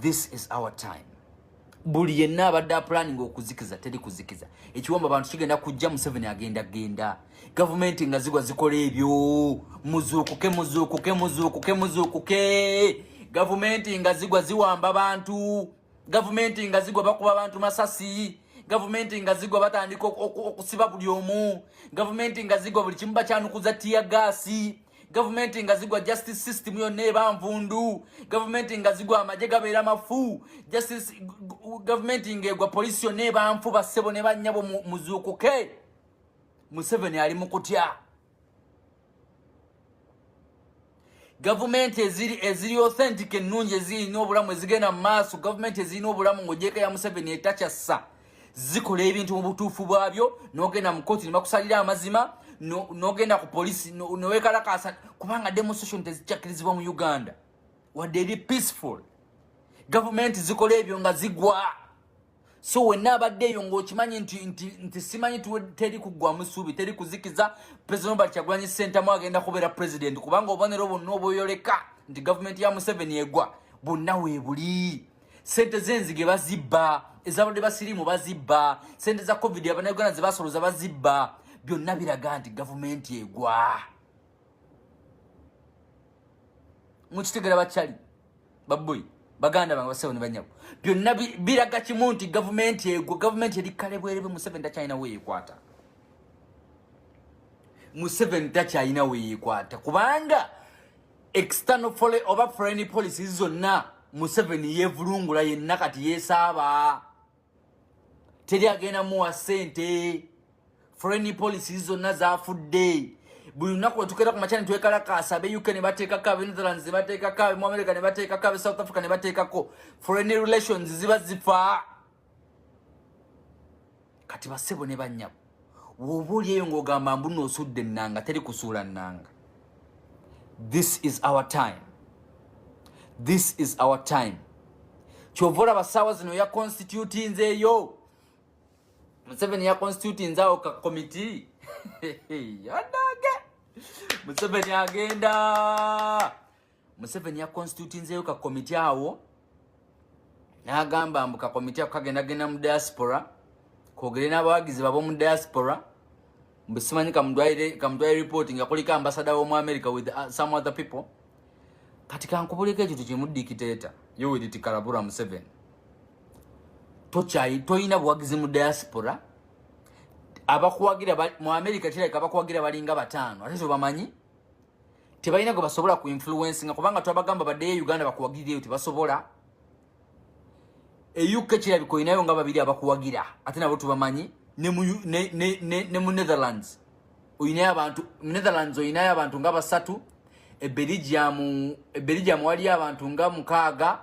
this is our time buli yenna abadde apulaninga okuzikiza teri kuzikiza ekiwamba abantu kigenda kujja museveni agenda genda gavumenti nga zigwa zikola ebyo muzuukuke muzuukuke muzuukuke muzuukuke gavumenti nga zigwa ziwamba bantu gavumenti nga zigwa bakuba bantu masasi gavumenti nga zigwa batandika okusiba buli omu gavumenti nga zigwa buli kimu bakyanukuza tiya gaasi gavumenti nga zigwa justice system yonna eba nvundu gavumenti nga zigwa amagye gabeera mafu gavumenti nga egwa polisi yonna eba nfu bassebo ne bannyabo muzuukuke museveni ali mu kutya gavumenti eziri eziri authentic ennungi ezirina obulamu ezigenda mu maaso gavumenti ezirina obulamu ng'ogyeko ya museveni etakyassa zikola ebintu mu butuufu bwabyo nogenda mu kooti nebakusalira amazima nogenda ku polisi newekalakasa kubanga demonstration tezikyakirizibwa mu uganda wadde eri peaceful gavumenti zikola ebyo nga zigwa so wenna abadde eyo ngaokimanyi nti, nti, nti simanyi teri kuggwamu suubi teri kuzikiza president obert kyagulanyi sentamu agenda kubeera president kubanga obubonero bwonna obweyoleka nti gavumenti ya museveni egwa bwonna weebuli sente zenzige bazibba ezabadde basirimu bazibba sente za covid abanauganda zebasoloza bazibba byonna biraga nti gavumenti egwa mukitegera bakyali baboyi baganda bange basebo nebanyabo byonna biraga kimu nti gavumenti egwa gavumenti eri kale bwerebe museveni takyalina weyekwata museveni takyalina weyekwata kubanga external foreign oba foreign policy zonna Museveni yevulungula yenna kati yesaaba teri agenda muwa sente foreign policy zonna zafudde buli lunaku wetukeera ku makyani twekalakaasa abe uk ne bateekako abe netherlands ne bateekako abe mu america ne bateekako abe south africa ne bateekako foreign relations ziba zifaa kati basebo ne banyabo woba oli eyo ngaogamba mbu nosudde enanga teri kusuula nanga this is our time this is our time kyova olaba saawa zino ya constitutinze eyo museveni ya constitutinze awo ka komiti adage museveni agenda museveni yakonstitutinzeyo ka komite awo n'agamba mbu ka komite ako kagendagenda mu diaspora kogere n'abawagizi babo mu diaspora mbu simanyi kamutwale report nga kuliko ambasada womu america with uh, some other people kati kankubuleko ekintu kimu dikiteta yowediti kalabura museveni tokyayi toyina buwagizi mu diaspora abakuwagira mu america kirabika abakuwagira balinga bataano ate zobamanyi tebalina gwe basobola ku influence nga kubanga twabagamba baddeyo e uganda bakuwagirireyo tebasobola e uk kirabika olinayo nga babiri abakuwagira ate nabo tubamanyi ne mu ne, ne, ne, ne mu netherlands oyinayo abantu netherlands oyinayo abantu nga basatu ebeligiamu ebeligiamu waliyo abantu nga mukaaga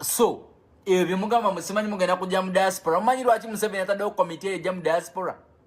so ebyo byemugamba musimanyi mugenda kujja mu diaspora omanyi lwaki museveni ataddewo komite eyo ejja mu diaspora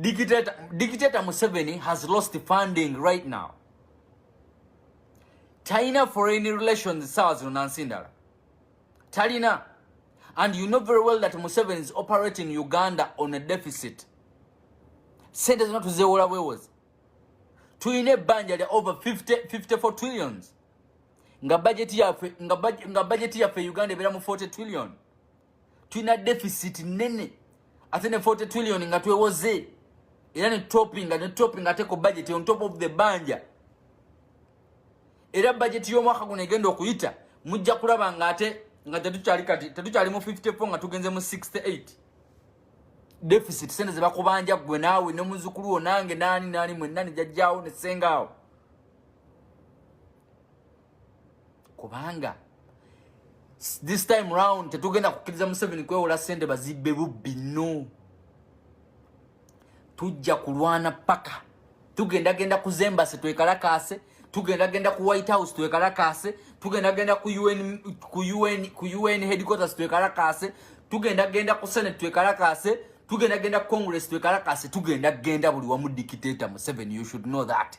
Dictator, dictator Museveni has lost funding right now. China foreign relations sawa zino nansi ndala talina and you know very well that Museveni is operating Uganda on a deficit. Sente zino tuzewola bwewozi tulina ebbanja lya over 50, 54 trillions nga bajeti yaffe nga bajeti yaffe Uganda ebeera mu 40 trillion tulina deficit nene ate ne 40 trillion nga twewoze era ne topping ne topping ate ku budget on top of the banja era budget y'omwaka guno egenda okuyita mujja kulaba nga ate nga tetukyali kati tetukyali mu 54 nga tugenze mu 68 deficit sente ze bakubanja gwe naawe ne muzukulu wo nange naani naani mwenna ne jajjaawo ne ssengaawo kubanga this time round tetugenda kukkiriza museveni kwewola sente bazibbe bubbi no tujja kulwana paka tugenda genda ku zembasi twekalakaase tugenda genda ku white house twekalakaase tugenda genda ku un ku un ku un headquarters twekalakaase tugenda genda ku senate twekalakaase tugenda genda ku congress twekalakaase tugenda genda buli wamu dictator museveni you should know that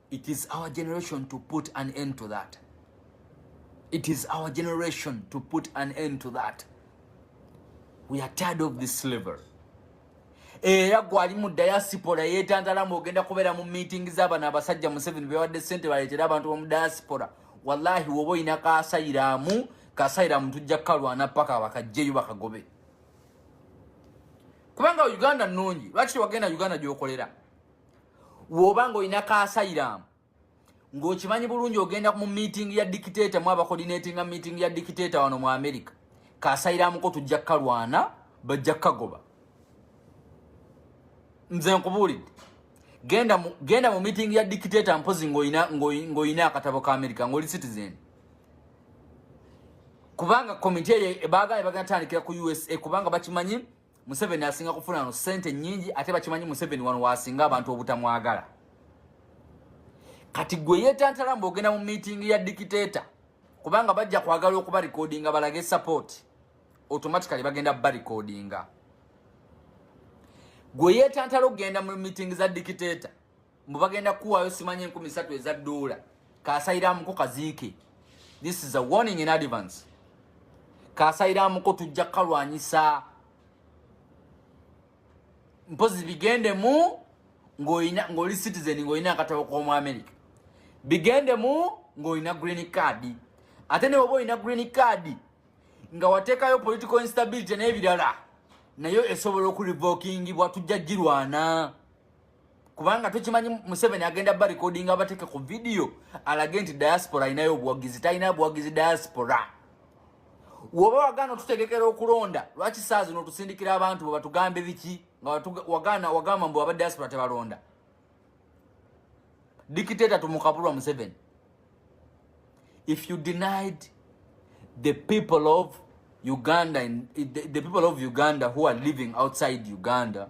It is our generation to put an end to that. It is our generation to put an end to that. We are tired of this slavery. era gwali mu diaspora yetantala mbu ogenda kubeera mu meeting z'abana abasajja museveni bewadde sente baleetera abantu bomu diaspora wallahi woba olina kasayiramu kasayiramu tujja kukalwana paka bakajjeyo bakagobe kubanga uganda nungi lwaki tewagenda uganda gyokolera woba ng'olina kaasayiraamu ng'okimanyi bulungi ogenda mu meeting ya dictator mu abakodinetinga meeting ya dictator wano mu america kaasayiraamuko tujja kukalwana bajja kukagoba nze nkubuulidde genda mu, genda mu meeting ya dictator mpozi ng'olina ng'olina akatabo ka america ng'oli citizen kubanga komiti eyo baagala bagenda tandikira ku usa kubanga bakimanyi Museveni asinga kufuna no sente nyingi ate bakimanyi Museveni wano wasinga abantu obutamwagala. Kati gwe yetantala mbogenda mu meeting ya dictator kubanga bajja kwagala okuba recordinga balage support automatically bagenda ba recordinga. Gwe yetantala okugenda mu meeting za dictator mbu bagenda kuwaayo simanyi enkumi satu eza doola kasairamuko kaziike this is a warning in advance kasairamuko tujja kukalwanyisa mpozi bigendemu ng'oli citizen ng'olina akatabo k'omu america bigendemu ng'olina green card ate newoba olina green card nga wateekayo political instability n'ebirala nayo esobola okurevokingibwa tujja girwana kubanga tukimanyi museveni agenda ba recording abateke ku video alage nti diaspora alinayo obuwagizi talina buwagizi diaspora woba wagana otutegekera okulonda lwaki saa zino otusindikira abantu bebatugambe biki nga wagana wagamba mbu aba diaspora tebalonda dictator tumukabulwa museveni if you denied the people of Uganda and the, the people of Uganda who are living outside Uganda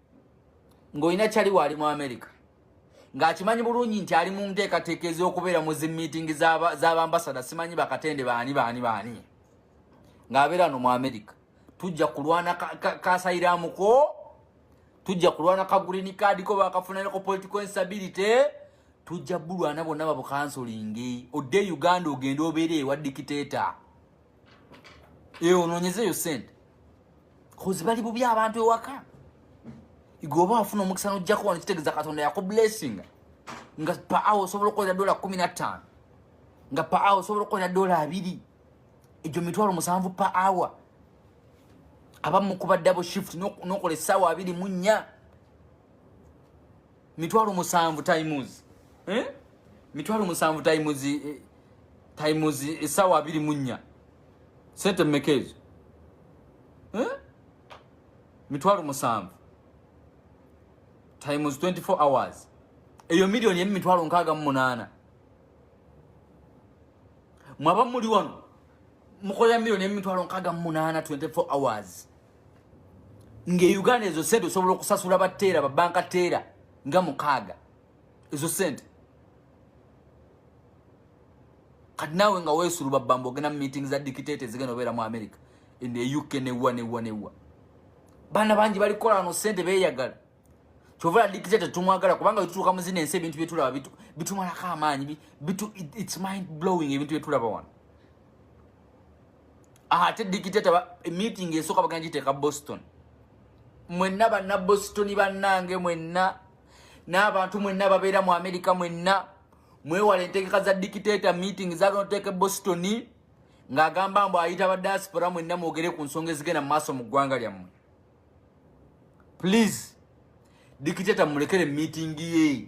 ng'olina kyali waali mu amerika ng'akimanyi bulungi nti ali mu nteekateeka ez'okubeera mu zi miitingi z'abambasada simanyi bakatende baani baani baani ng'abeera no mu amerika tujja kulwana kasayiramuko ka, ka tujja kulwana ka green card ko bakafunayo ko political instability tujja bulwana bonna babukansolingi odde uganda ogenda obeere ewa dikiteta eyo onoonyezeeyo sente kozi bali bubi abantu ewaka igwe oba wafuna omukisa nojjako wano kitegeeza katonda yakublessinga nga pa awo osobola okukolera dola kumi na ttaano nga pa awo osobola okukolera dola abiri egyo mitwalo musanvu pa awa abamu kuba double shift nokola essaawa abiri mu nnya mitwalo musanvu times eh? mitwalo musanvu times eh, times esawa abiri munya sente mekezo eh? mitwalo musanvu times 24 hours eyo milioni emu mitwalo nkaaga mu munaana mwaba muli wano mukolera milioni emu mitwalo nkaaga mu munaana 24 hours ng'e uganda ezo sente osobola okusasula bateera babanka teera nga mukaaga ezo sente kati naawe nga weesulu babamba ogenda mu meeting za dictate ezigenda obeera mu america ne uk newa newa newa baana bangi balikola ano sente beeyagala kyovola dictator tumwagala kubanga wetutuuka mu zino ensi ebintu byetulaba bitumalako amaanyi its mind blowing ebintu byetulaba wano ate dictator meeting esooka bagana giteeka boston mwenna banna boston bannange mwenna n'abantu mwenna ababeera mu amerika mwenna mwewala entegeka za dictator meeting zagana oteeka boston ng'agamba mbu ayita badiaspora mwenna mwogere ku nsonga ezigenda mu maaso mu ggwanga lyammwe please dikiteta mulekere meeting ye